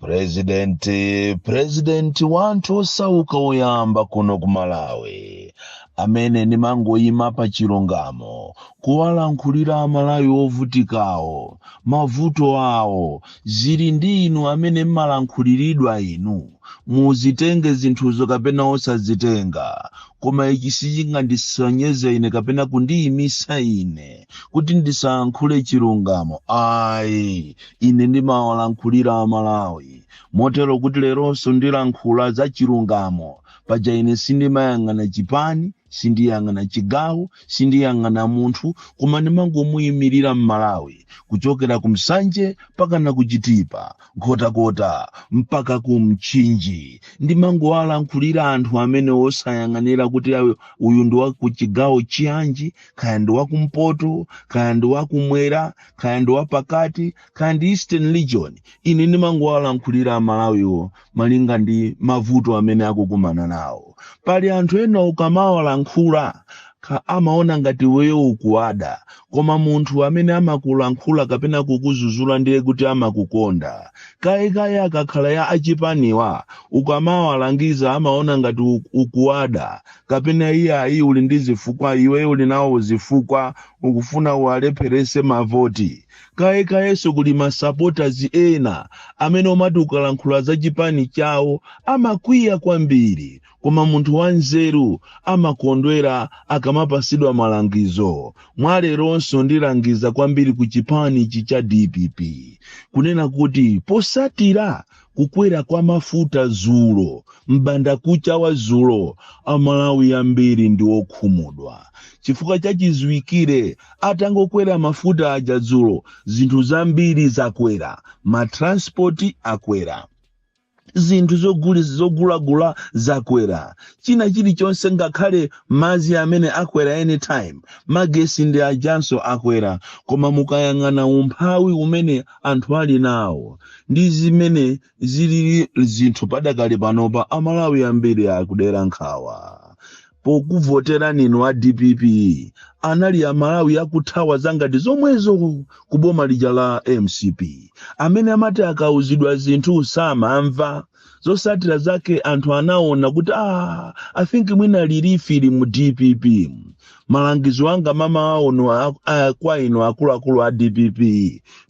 Prezidenti, prezidenti wanthu osauka oyamba kuno ku Malawi, amene ndimangoyima pa chilungamo kuwalankhulira Amalawi ovutikawo, mavuto awo, zili ndi inu amene mmalankhuliridwa inu, muzitenge zinthuzo kapena osazitenga. Koma ichi sichingandisonyeze ine kapena kundiyimisa ine kuti ndisalankhule chilungamo. Ayi, ine ndimawalankhulira amalawi motero kuti leronso ndilankhula za chilungamo paja ine sindimayang'ana chipani sindiyang'ana chigawo sindiyang'ana munthu koma ndimangomuyimirira mmalawi kuchokera ku nsanje mpaka na ku chitipa nkhotakota mpaka ku mchinji ndimangowalankhulira anthu amene osayang'anira kuti awe- uyu ndi wa ku chigawo chiyanji kaya ndi wakumpoto kaya ndi wakumwera kaya ndi wapakati kaya ndi eastern region ine ndimangowalankhulira amalawiwo malinga ndi mavuto amene akukumana nawo pali anthu ena ukamawalankhula ka- amaona ngati iweyo ukuwada koma munthu amene amakulankhula kapena kukuzuzula ndiye kuti amakukonda kayekaye akakhala ya achipaniwa ukamawalangiza amaona ngati u- ukuwada kapena iye ayi uli ndi zifukwa iweyo uli nawo zifukwa ukufuna uwalepherese mavoti kaye kayenso kuli masapotazi ena amene amati ukalankhula za chipani chawo amakwiya kwambiri koma munthu wanzeru amakondwera akamapasidwa malangizo mwa leronso ndilangiza kwambiri ku chipani ichi cha dpp kunena kuti posatira kukwera kwa mafuta zulo m'bandakucha wa zulo amalawi ambiri ndi okhumudwa chifukwa chachiziwikire atangokwera mafuta aja zulo zinthu zambiri zakwera matranspoti akwera zinthu zoguli- zogulagula zakwera china chilichonse ngakhale madzi amene akwera anytime magesi ndi ajanso akwera koma mukayang'ana umphawi umene anthu ali nawo ndi zimene zilili zinthu padakali panopa amalawi ambiri akudera nkhawa pokuvoterani inu a dpp anali amalawi akuthawa zangati zomwezo ku- ku boma lija la mcp amene amati akauzidwa zinthu samamva zosatira zake anthu anaona kuti ah, i think mwina relief ili mu dpp malangizo anga mmamawa uno a- a- kwa inu akuluakulu a dpp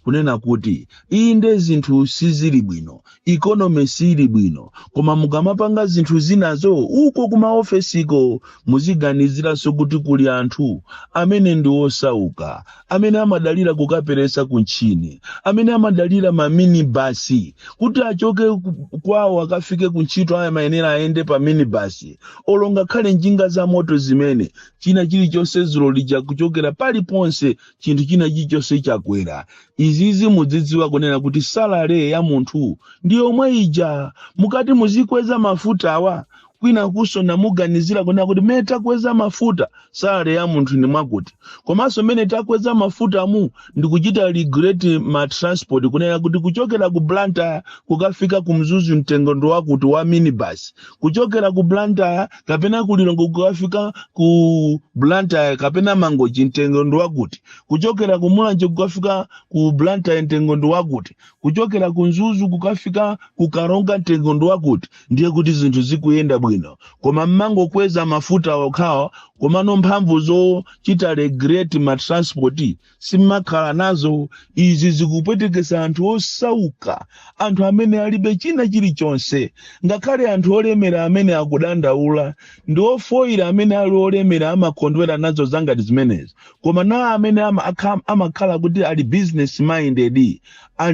kunena kuti inde zinthu sizili bwino ikonomi siili bwino koma mukamapanga zinthu zinazo uko kumaofesiko muziganiziranso kuti kuli anthu amene ndi osauka amene amadalira kukaperesa ku mtchini amene amadalira ma minibus kuti achoke ku- kwawo akafike ku ntchito aya amayenera ayende pa minibus olo ngakhale njinga za moto zimene china chilichonse dzulo lija kuchokera paliponse chinthu china chilichonse chakwera izizi mudzidziwa kunena kuti salary ya munthu ndi yomwe ija mukati muzikweza mafutawa kwinakunso sinamuganizire kunena kuti mmene takweza mafuta salary ya munthu ndi mwakuti komanso mmene takweza mafuta mu ndikuchita regulate ma transport kunena kuti kuchokera ku blantyre kukafika ku mzuzu mtengo ndi wakuti wa minibus kuchokera ku blantyre kapena ku lilongwe kukafika ku blantyre kapena mangochi mtengo ndi wakuti kuchokera ku mulanje kukafika ku blantyre mtengo ndi wakuti kuchokera ku mzuzu kukafika ku karonga mtengo ndi wakuti ndiye kuti zinthu zikuyenda bwino koma mmangokweza mafuta okhawa komano mphamvu zochita regulate ma transport simmakhala nazo izi zikupwetekesa anthu osauka anthu amene alibe china chilichonse ngakhale anthu olemera amene akudandaula ndi ofoyira amene ali olemera amakondwera nazo zangati zimenezi koma nawo amene ama- akha- amakhala kuti ali business minded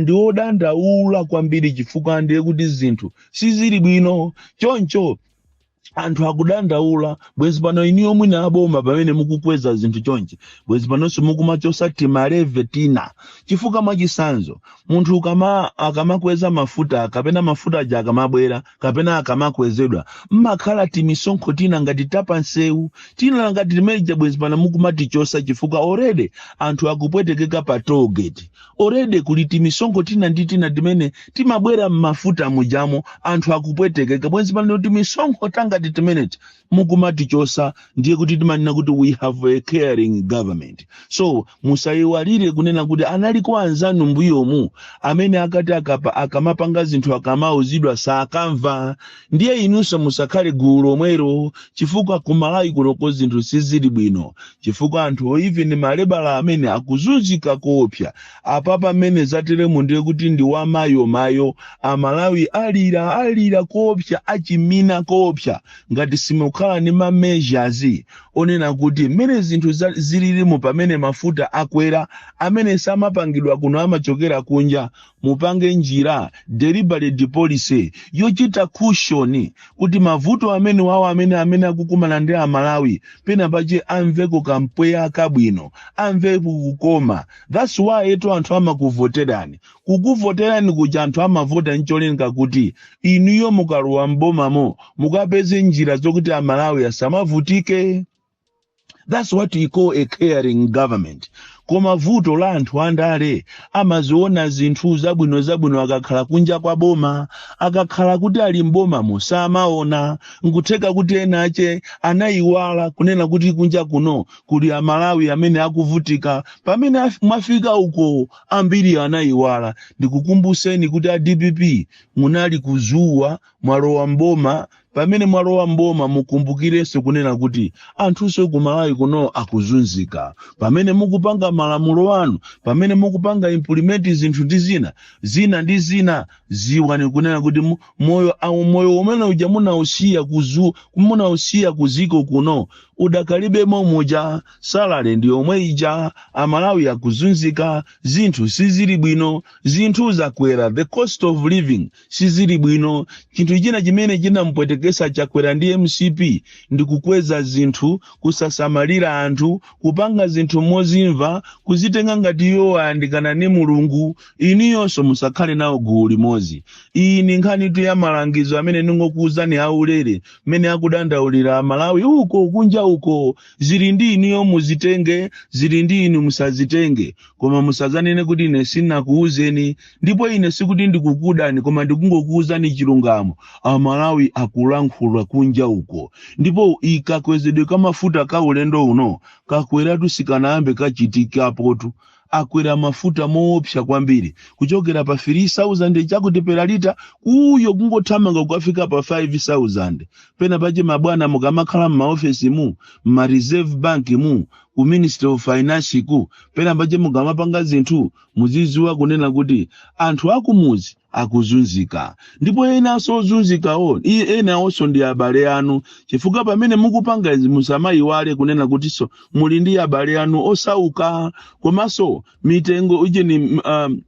ndi odandaula kwambiri chifukwa ndiye kuti zinthu sizili bwino choncho anthu akudandaula bwezi pano iniyo mwina aboma pamene mukukweza zinthu chonchi bwezi panonso mukumachosa tima levy tina chifukwa mwachisanzo munthu ukama akamakweza mafuta kapena mafuta aja akamabwera kapena akamakwezedwa mmakhala timisonkho tina ngati tapansewu tina ngati timene tija bwezi pano mukumatichosa chifukwa already anthu akupwetekeka pa toll gate already kuli timisonkho tina ndi tina timene timabwera mmafuta mujamo anthu akupwetekeka bwenzi pano timisonkho tangati timeneti mukumatichosa ndiye kuti timanena kuti we have a caring government so musayiwalire kunena kuti analiko anzanu mbuyomu amene akati akapa akamapanga zinthu akamauzidwa sakamva ndiye inunso musakhale gulu lomwelo chifukwa kumalawi kunoko zinthu sizili bwino chifukwa anthu even ma labourer amene akuzunzika koopsa apapa mmene zateremu ndiye kuti ndi wamayomayo amalawi alira alira koopsa achimina koopsa ngati simukhala ndi ma measures onena kuti mmene zinthu za- zililimu pamene mafuta akwera amene samapangidwa kuno amachokera kunja mupange njira deliberate policy yochita cushion kuti mavuto amene wawo amene amene akukumana ndi amalawi pena pache amveko kampweya kabwino amveko kukoma that's why eto anthu amakuvoterani Kukuvoterani kuja anthu amavota ncholinga kuti inuyo mukalowa m'bomamo mukapeze njira zokuti a Malawi asamavutike. That's what we call a caring government. Koma vuto la anthu andale amaziona zinthu zabwino zabwino akakhala kunja kwa boma, akakhala kuti ali m'bomamo samaona. Nkutheka kuti ena ache anaiwala kunena kuti kunja kuno kuli a Malawi amene akuvutika. Pamene af- mwafika uko Ambiri anaiwala. Ndikukumbuseni kuti a dpp munali ku zuwa mwalowa mboma pamene mwalowa mboma mukumbukirenso kunena kuti anthunso ku Malawi kuno akuzunzika. Pamene mukupanga malamulo anu, pamene mukupanga implement zinthu ndi zina zina ndi zina dziwani kunena kuti mu- moyo uh moyo umene uja munausiya kuzu munausiya kuziko kuno udakali be momuja salary ndi yomwe ija amalawi akuzunzika zinthu sizili bwino zinthu zakwera the cost of living sizili bwino chinthu china chimene chinampwetekesa chakwera ndi mcp ndi kukweza zinthu kusasamalira anthu kupanga zinthu mozimva kuzitenga ngati iwo ayandikana ni mulungu inuyonso musakhale nawo gulu limodzi iyi ni nkhanitu ya malangizo amene ndingokuwuzani aulere mmene akudandaulira amalawi uko kunja uko zili ndi inuyo muzitenge zili ndi inu musazitenge koma musazanene kuti ine sinakuwuzeni ndipo ine sikuti ndikukudani koma ndikungokuwuzani chilungamo amalawi akulankhula kunja uko ndipo ikakwezedwe kamafuta ka ulendo uno kakweratu sikanayambe kachitikapotu akwera mafuta moopsa kwambiri kuchokera pa 3000 chakuti per litre uyo kungothamanga kukafika pa 5000 pena pache mabwana mukamakhala m'maofesi mu m'ma reserve bank mu ku ministry of finance ku pena pache mukamapanga zinthu muziziwa kunena kuti anthu akumuzi akuzunzika ndipo enanso ozunzikawo i- enawonso ndi abale anu chifukwa pamene mukupanga izi musamayiwale kunena kutinso muli ndi abale anu osauka komanso mitengo ujeni um,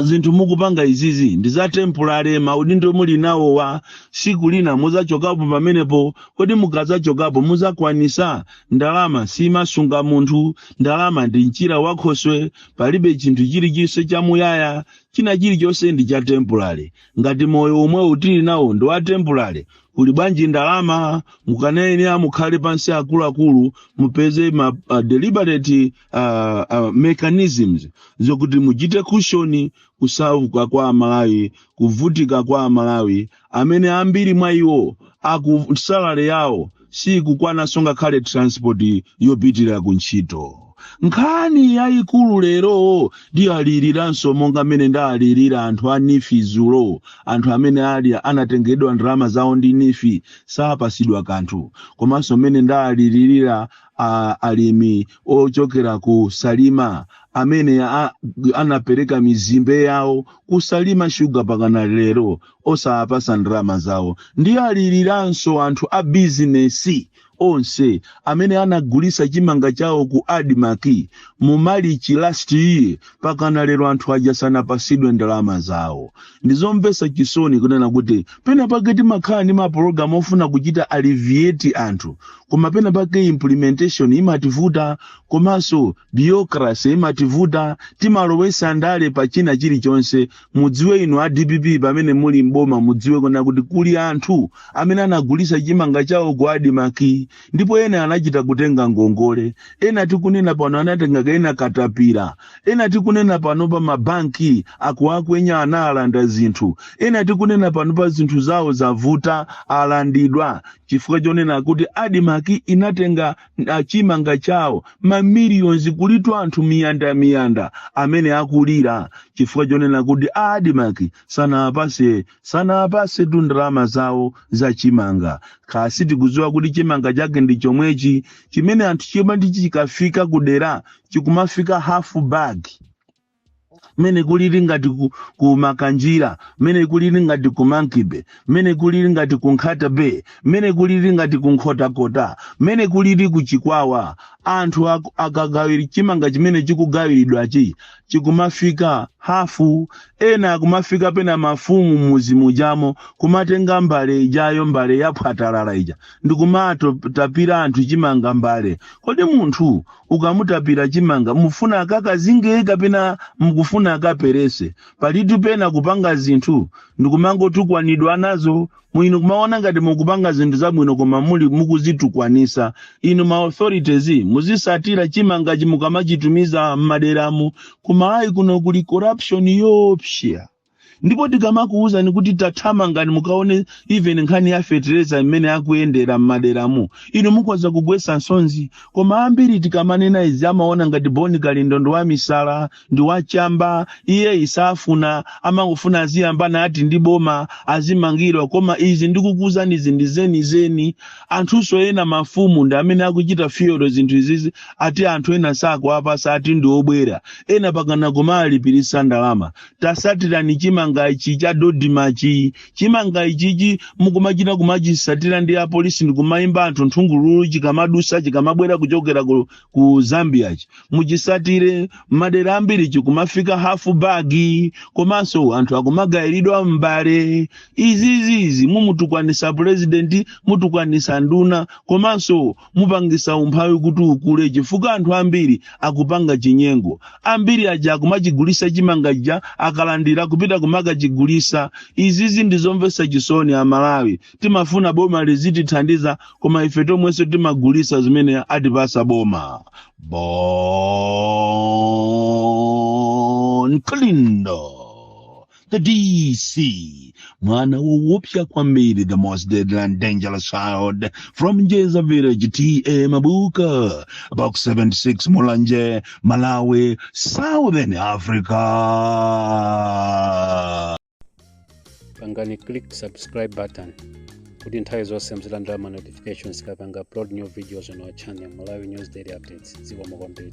zinthu mukupanga izizi ndi za temporary maudindo muli nawowa siku lina muzachokapo pamenepo kodi mukazachokapo muzakwanisa ndalama simasunga munthu ndalama ndi mchira wa khoswe palibe chinthu chilichonse chamuyaya China chilichonse ndi cha temporary. Ngati moyo omwewu tili nawo ndi wa temporary, kuli bwanji ndalama? Mukanene ena mukhale pansi akuluakulu mupeze ma uh, deliberate uh, uh, mechanisms zokuti muchite cushion kusauka kwa Amalawi, kuvutika kwa Amalawi amene ambiri mwa iwo aku salary yawo sikukwananso ngakhale transport yopitira ku ntchito nkhani yayikulu lero ndiyaliriranso monga mmene ndaalirira anthu a nifi zulo anthu amene anatengedwa ndalama zawo ndi nifi sapasidwa kanthu komanso mmene ndaalilirira a- alimi ochokera ku salima amene a- anapereka mizimbe yawo kusalima shuga pakana lero osawapasa ndalama zawo ndiyaliriranso anthu a bizinesi onse amene anagulisa chimanga chawo ku admarc mu malichi last year pakana lero anthu aja sanapasidwe ndalama zawo ndizomvesa chisoni kunena kuti pena pake timakhala ndi mapulogalamu ofuna kuchita alleviate anthu koma pena pake implementation imativuta komanso bureaucracy imativuta timalowesa ndale pa china chilichonse mudziwe inu a dpp pamene muli mboma mudziwe kunena kuti kuli anthu amene anagulisa chimanga chawo ku adimaki ndipo ena anachita kutenga ngongole ena tikunena pano anatenga kaya ndi katapira ena tikunena pano pa mabanki akuwakwenya anawalanda zinthu ena tikunena pano pa zinthu zawo zavuta alandidwa chifukwa chonena kuti adimaki inatenga a chimanga chawo ma millions kulitu anthu miyanda miyanda amene akulira chifukwa chonena kuti a admarc sanawapase sanawapasetu ndalama zawo za chimanga kaya sitikudziwa kuti chimanga chake ndi chomwechi chimene anthu chimati chikafika kudera chikumafika half bag mmene kulili ngati ku, ku makanjira mmene kulili ngati ku monkey-bay mmene kulili ngati ku nkhata bay mmene kulili ngati ku nkhotakota mmene kulili ku chikwawa anthu ak- akagawira chimanga chimene chikugawiridwachi chikumafika hafu ena kumafika pena mafumu m'mudzi mujamo kumatenga mbale ijayo mbale yaphwatalala ija ndikumatapira anthu chimanga mbale kodi munthu ukamutapira chimanga mufuna akakazinge kapena mukufuna akaperese palitu pena kupanga zinthu ndikumangotukwanidwa nazo mwina kumaona ngati mukupanga zinthu zabwino koma muli mukuzitukwanisa inu ma authorities muzisatira chimanga chimukamachitumiza m'maderamu koma ayi kuno kuli corruption yopsya ndipo tikamakuwuzani kuti tathamangani mukaone even nkhani ya fetereza mmene ikuyendera m'maderamu inu mukhoza kugwetsa nsonzi koma ambiri tikamanena izi amaona ngati boni kalindo ndi wamisala ndi wachamba iye safuna amangofuna aziyambana ati ndi boma azimangidwa koma izi ndikukuwuzani izi ndi zenizeni anthunso ena mafumu ndi amene akuchita fuel zinthu izizi ati anthu ena sakuwapasa ati ndi obwera ena pakana kumalipirisa ndalama tasatirani chimanga ichi cha dodimachi chimanga ichichi mukumachita kumachisatira ndi apolisi ndikumayimba anthu nthungululu chikamadusa chikamabwera kuchokera ku, ku zambiachi muchisatire m'madera ambiri chikumafika hafu bagi komanso anthu akumagayiridwa m'mbale izizizi mumutukwanisa purezidenti mutukwanisa nduna komanso mupangisa umphawi kuti ukule chifukwa anthu ambiri akupanga chinyengo ambiri aja akumachigulisa chimanga chija akalandira kupita kumakachigulisa izizi ndizomvesa chisoni amalawi timafuna boma lizitithandiza koma ife tomwenso timagulisa zimene atipasa boma bon kalindo The DC, mwana woopsya kwambiri, the most deadly and dangerous child from Njeza village, TA Mabuka, box 76 Mulanje, Malawi, Southern Africa. pangani click subscribe button kuti nthawi zonse muzilandira ma notifications tikapanga upload new videos on our channel malawi news daily updates zikomo kwambiri